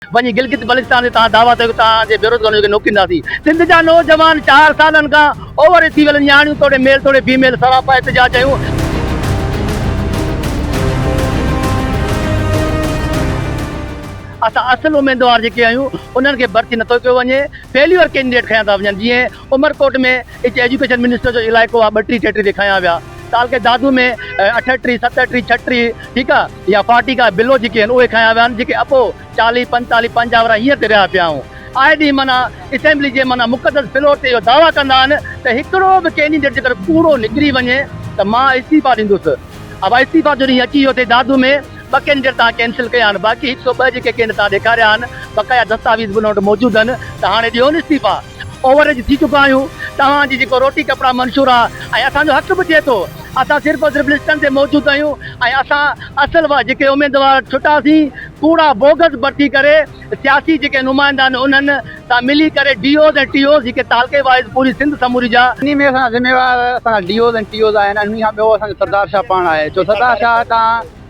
وڃي گلگت بلتستان جي تان دعويٰ ڪيو ته توهان جي بيروزگارن کي نوڪرينداسين، سنڌ جا نوجوان چار سالن کان اووري ٿي ويل نياڻيون توڙي ميل توڙي بي ميل سراپا احتجاج ڪيون. اسان اصل اميدوار جيڪي آهيون انهن کي ڀرتي نٿو ڪيو وڃي فيليور ڪينڊيڊيٽ کنيا ٿا وڃن جيئن. عمرڪوٽ ۾ هڪ ايجوڪيشن منسٽر جو علائقو آ ٻٽري ٽيٽري ڏيکايا ويا تعلقي دادو ۾ اٺٽري ستٽري ڇٽري ٺيڪ آ يا فاٽيڪ آ بلو جيڪي هن اهي کايا ويا جيڪي اپو چالهي پنتالهي پنجاهه ورهه هينئر تي رهيا پيا آئون آئي ڏينهن معنيٰ اسيمبلي جي معنيٰ مقدس فلور تي اهو دعويٰ ڪندا آهن ته هڪڙو به ڪينڊيڊيٽ جيڪر ڪوڙو نڪري وڃي ته مان استعيفا ڏيندس اهو استعيفا جو ڏينهن اچي ويو تي دادو ۾ ٻه ڪينڊيڊيٽ تان ڪينسل ڪيا آهن باقي هڪ سؤ ٻه جيڪي ڪينڊ تان ڏيکاريا آهن بقايا دستاويز به ان وٽ موجود آهن ته هاڻي ڏيون استعيفا. اوور ايج ٿي چڪا آهيون، توهان جي جيڪو روٽي ڪپڙا منشور آ ۽ اسان جو حق به ٿئي ٿو، اسان صرف اور صرف لسٽن تي موجود آهيون ۽ اسان اصل وا جيڪي اميدوار ڇٽا سين ڪوڙا بوگس ڀرتي ڪري سياسي جيڪي نمائندا آهن انهن سان ملي ڪري ڊي اوز ۽ ٽي اوز جيڪي تعلقي وائيز پوري سنڌ سموري جا انهي ۾ اسان جا ذميوار اسان جا ڊي اوز ۽ ٽي اوز آهن ۽ انهي کان ٻيو اسان جو سردار شاهه پاڻ آهي ڇو سردار شاهه کان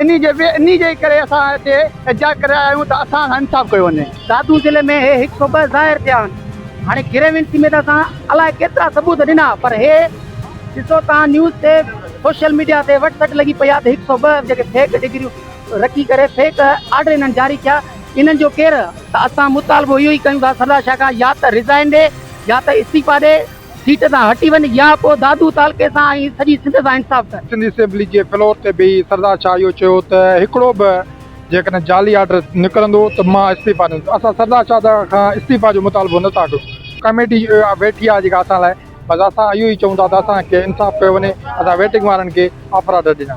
انهي جي انهي جي ئي ڪري اسان هتي احتجاج ڪري رهيا آهيون ته اسان سان انصاف ڪيو وڃي. دادو ضلعي ۾ هي هڪ سو ٻه ظاهر ٿيا آهن هاڻي گريوينس ۾ ته اسان الائي ڪيترا ثبوت ڏنا پر هي ڏسو توهان نيوز تي سوشل ميڊيا تي وٽ سٽ لڳي پئي آهي ته هڪ سو ٻه جيڪي فيڪ ڊگريون رکي ڪري فيڪ آرڊر انهن جاري ڪيا انهن جو ڪير ته اسان مطالبو اهو ئي ڪيون ٿا سردار شاهه خان يا ته ريزائن ڏي يا ته استعيفا ڏي. سيٽ تان هٽي وڃ يا پوء دادو تعلقي سان ۽ سڄي سنڌ سان انصاف ڪر. سنڌ اسيمبلي جي فلور تي بيهي سردار شاهه اهو چيو ته هڪڙو به جيڪڏهن جعلي آرڊر نڪرندو ته مان استعيفا ڏيندس، اسان سردار شاهه کان استعيفا جو مطالبو نه ٿا ڪيون، ڪميٽي ويٺي آهي جيڪا اسان لاء، بس اسان اهو ئي چئون ٿا ته اسان کي انصاف ڪيو وڃي، اسان ويٽنگ وارن کي آفر آرڊر ڏنا.